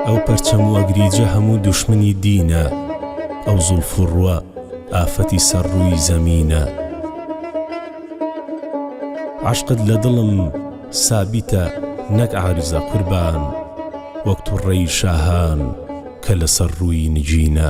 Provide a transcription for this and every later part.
ئەو پەرچەم و ئەگریجە هەموو دوشمنی دینە ئەو زوڵف و ڕوە ئافەتی سەر ڕووی زەمینە عەشقت لە دڵم سابیتە نەک عارزە قوربان وەک توڕەی شاهان کە لەسەر ڕووی نگینە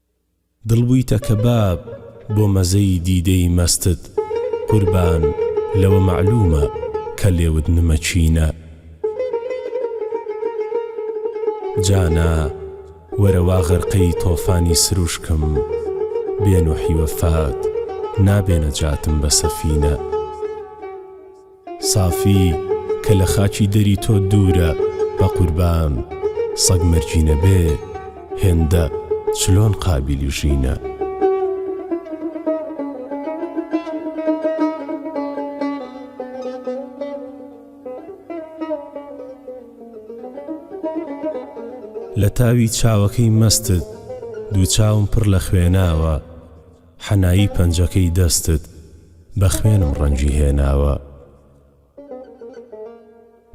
دڵ بوویتە کەباب بۆ مەزەی دیدەی مەستت قوربان لەوە مەعلوومە کە لێوت نمەچینە جانا وەرە وا غەرقەی تۆفانی سروشکم بێ نوحی وەفات نابێنە جاتم بە سەفینە. سافی کە لە خاکی دەری تۆ دوورە بەقوربان سەگ مەرگینە بێ هێندە چلۆن قابیلی ژینە. لە تاوی چاوەکەی مەستت دوو چاوم پڕ لە خوێناوە. حەنایی پەنجەکەی دەستت بە خوێنم ڕەنگی هێناوە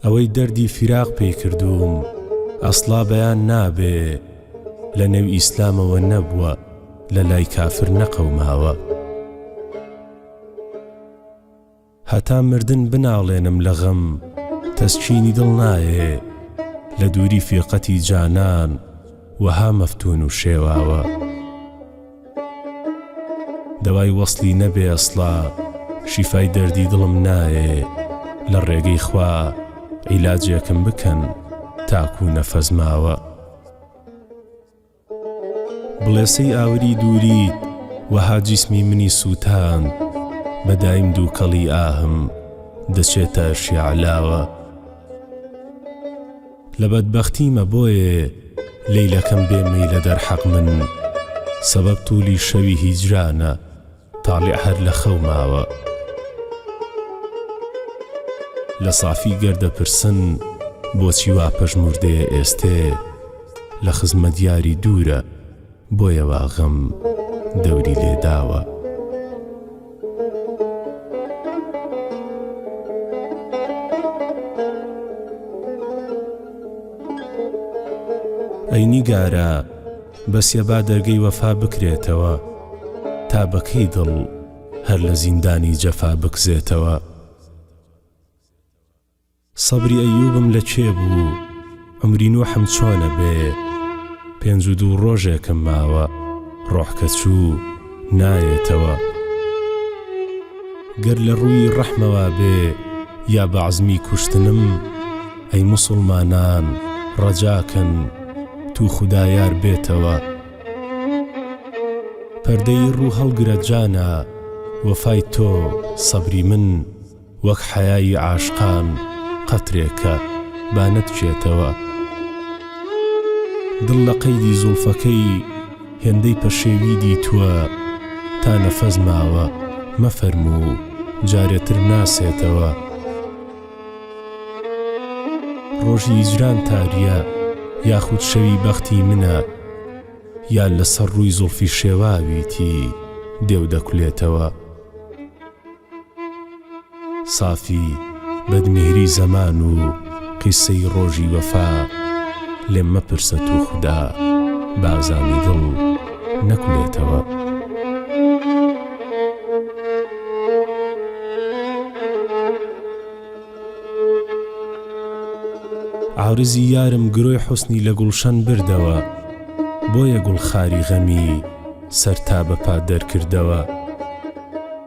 ئەوەی دەردی فیراق پێی کردووم ئەسڵا بەیان نابێ لە نێو ئیسلامەوە نەبووە لە لای کافر نەقەوماوە. هەتا مردن بناڵێنم لە غەم تەسکینی دڵ نایێ لە دووری فیرقەتی جانان وەها مەفتوون و شێواوە دەوای وەسڵی نەبێ ئەسڵا شیفای دەردی دڵم نایێ لە ڕێگەی خوا عیلاجێکم بکەن تاکوو نەفەس ماوە. بڵێسەی ئاوری دووریت وەها جیسمی منی سووتاند بە دایم دووکەڵی ئاهم دەچێتە شیعلاوە لە بەدبەختیمە بۆیێ لەیلەکەم بێ مەیلە دەرحەق من سەبەب توولی شەوی هیجرانە تاڵیع هەر لە خەو ماوە. لە سافی گەر دەپرسن بۆچی وا پەژموردەیە ئێستێ لە خزمەت یاری دوورە بۆیە وا غەم دەوری لێ داوە. ئەی نیگارە! بەس یە با دەرگەی وەفا بکرێتەوە تا بە کەی دڵ هەر لە زیندانی جەفا بکزێتەوە سەبری ئەیوبم لە کێ بوو عمری نوحم چۆنە بێ پێنج و دوو ڕۆژێکم ماوە ڕۆح کە چوو نایەتەوە گەر لە ڕووی ڕەحمەوە بێ یا بە عەزمی کوشتنم ئەی موسڵمانان ڕەجاکەن تو خودایار بێتەوە پەردەی ڕوو هەڵگرە جانە وەفای تۆ سەبری من وەک حەیای عاشقان قەترێکە با نەتچێتەوە دڵ لە قەیدی زوڵفەکەی هێندەی پەشێوی دیتووە تا نەفەس ماوە مەفەرموو جارێ تر ناسێتەوە ڕۆژی هیجران تاریە یاخود شەوی بەختی منە یا لەسەر ڕووی زوڵفی شێواویتی دێو دەکولێتەوە سافی بەدمێری زەمان و قیسەی ڕۆژی وەفا لێم مەپرسە توخودا بازامی دڵ نەکولێتەوە. عارزی یارم گرۆی حوسنی لە گوڵشەن بردەوە بۆیە گوڵ خاری غەمی سەر تا بە پا دەرکردەوە.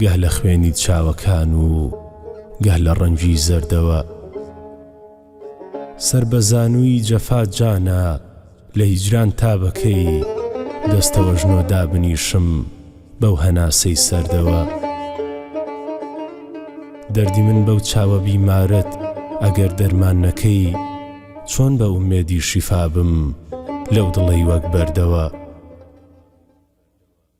گەه لە خوێنی چاوەکان و گەه لە ڕەنجی زەردەوە سەر بە زانووی جەفا جانا لە هیجران تا بەکەی دەستەوەژنۆ دابنیشم بەو هەناسەی سەردەوە دەردی من بەو چاوە بیمارەت ئەگەر دەرمان نەکەی چۆن بە ئومێدی شیفابم لەو دڵەی وەک بەردەوە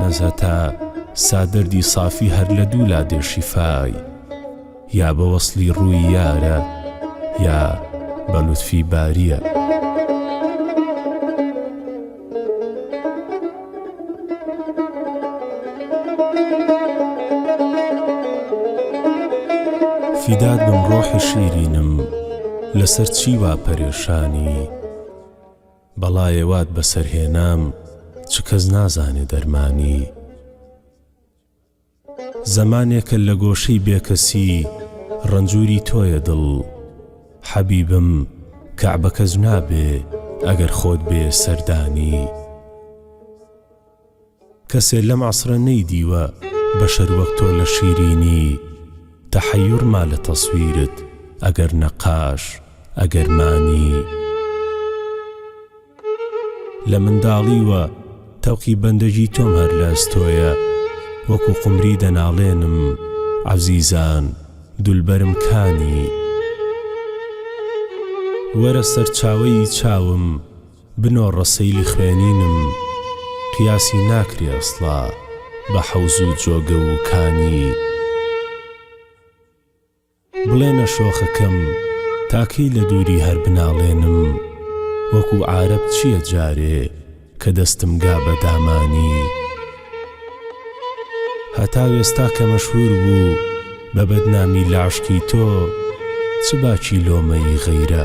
نەزهەتا سا دەردی سافی هەر لە دوو لا دێ شیفای یا بە وەسڵی ڕووی یارە یا بە لوتفی باریە. فیدات بم ڕۆحی شیرینم لەسەر چی وا پەرێشانی؟ بەڵایێ وات بەسەر هێنام چ کەس نازانێ دەرمانی زەمانێکە لە گۆشەی بێکەسی ڕەنجوری تۆیە دڵ حەبیبم کەعبەکە جنابێ ئەگەر خۆت بێ سەردانی. کەسێ لەم عەسرە نەیدیوە بەشەر وەک تۆ لە شیرینی تەحەیور ما لە تەسویرت ئەگەر نەقاش ئەگەر مانی لە منداڵیوە تەوقی بەندەگی تۆم هەر لە ئەستۆیە وەکو قومری دەناڵێنم عەزیزان دولبەرم کانی وەرە سەرچاوەیی چاوم بنۆڕە سەیلی خوێنینم قیاسی ناکرێ ئەسڵا بە حەوز و جۆگە و کانی بڵێنە شۆخەکەم تا کەی لە دووری هەر بناڵێنم وەکو عارەب چییە جارێ کە دەستم گا بە دامانی هەتا وێستا کە مەشهور بوو بە بەدنامی لە عەشقی تۆ چ باکی لۆمەی غەیرە؟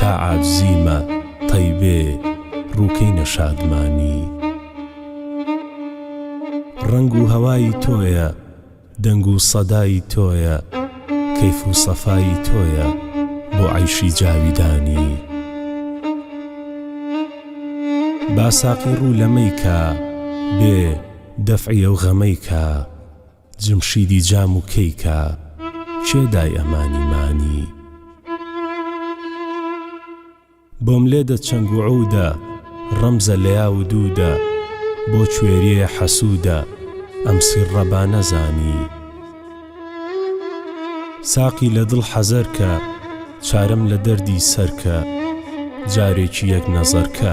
تا عاجزی مە تەیبێ ڕووکەینە شادمانی ڕەنگ و هەوای تۆیە دەنگ و سەدای تۆیە کەیف و سەفای تۆیە بۆ عەیشی جاویدانی با ساقی ڕوو لەمەی کا بێ دەفعی ئەو غەمەی کا جمشیدی جام و کەی کا کێ دای ئەمانی مانی. بۆم لێ دە چەنگ و عوودە ڕەمزە لەیا و دوودە بۆ کوێریێ حەسوودە ئەم سیڕە با نەزانی. ساقی لە دڵ حەزەر کە چارەم لە دەردی سەر کە جارێکی یەک نەزەر کە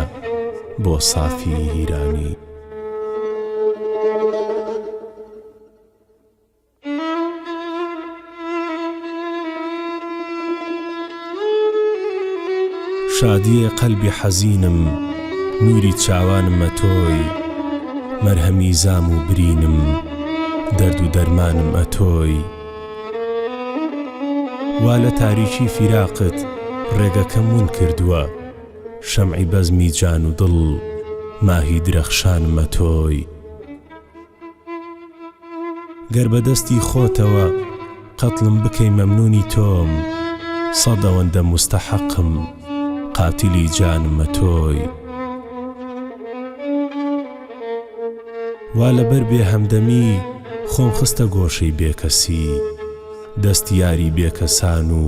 بۆ سافیی هیرانی. شادیێ قەلبی حەزینم نووری چاوانمە تۆی مەرهەمی زام و برینم دەرد و دەرمانم ئەتۆی وا لە تاریکی فیراقت ڕێگەکەم ون کردووە شەمعی بەزمی جان و دڵ ماهی درەخشانمە تۆی گەر بە دەستی خۆتەوە قەتڵم بکەی مەمنونی تۆم سەد ئەوەندە مستەحەقم قاتلی جانمە تۆی وا لەبەر بێ هەمدەمی خۆم خستە گۆشەی بێکەسی دەست یاری بێکەسان و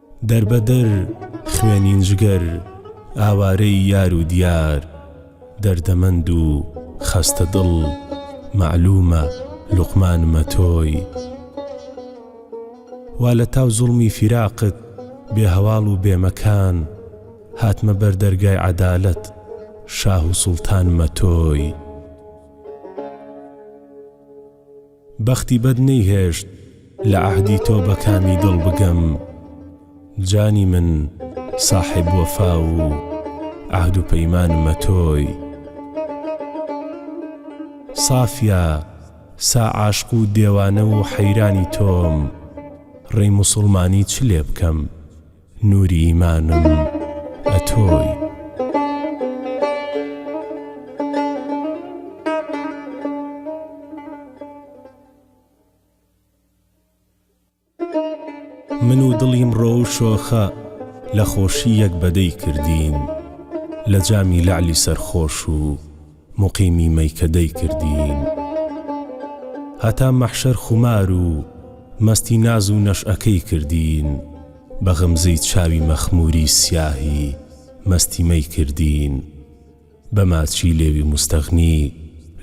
دەربەدەر خوێنین جگەر ئاوارەی یار و دیار دەردەمەند و خەستە دڵ مەعلومە لوقمانمە تۆی وا لە تاو زوڵمی فیراقت بێ هەواڵ و بێمەکان هاتمە بەر دەرگای عەدالەت شاه و سوڵتانمە تۆی. بەختی بەد نەیهێشت لە عەهدی تۆ بە کامی دڵ بگەم جانی من ساحێب وەفا و عەهد و پەیمانمە تۆی سافیا سا عاشق و دێوانە و حەیرانی تۆم ڕێی موسوڵمانی چ لێ بکەم؟ نوری ئیمانم ئەتۆی. من و دڵی مڕۆ و شۆخە لە خۆشی یەک بەدەی کردین لە جامی لەعلی سەرخۆش و موقیمی مەیکەدەی کردین هەتا مەحشەر خومار و مەستی ناز و نەشئەکەی کردین بە غەمزەی چاوی مەخموری سیاهی مەستی مەی کردین بە ماچی لێوی موستەغنی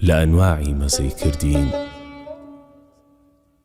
لە ئەنواعی مەزەی کردین.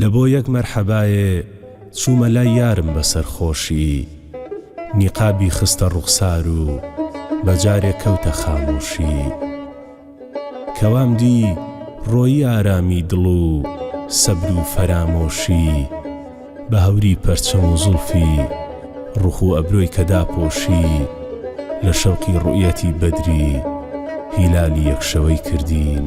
لە بۆ یەک مەرحەبایێ چوومە لای یارم بە سەرخۆشی نیقابی خستە ڕوخسار و بە جارێ کەوتە خامۆشی کەوام دی ڕۆیی ئارامی دڵ و سەبر و فەرامۆشی بە هەوری پەرچەم و زوڵفی ڕوخ و ئەبرۆی کە داپۆشی لە شەوقی ڕوئیەتی بەدری هیلالی یەک شەوەی کردین.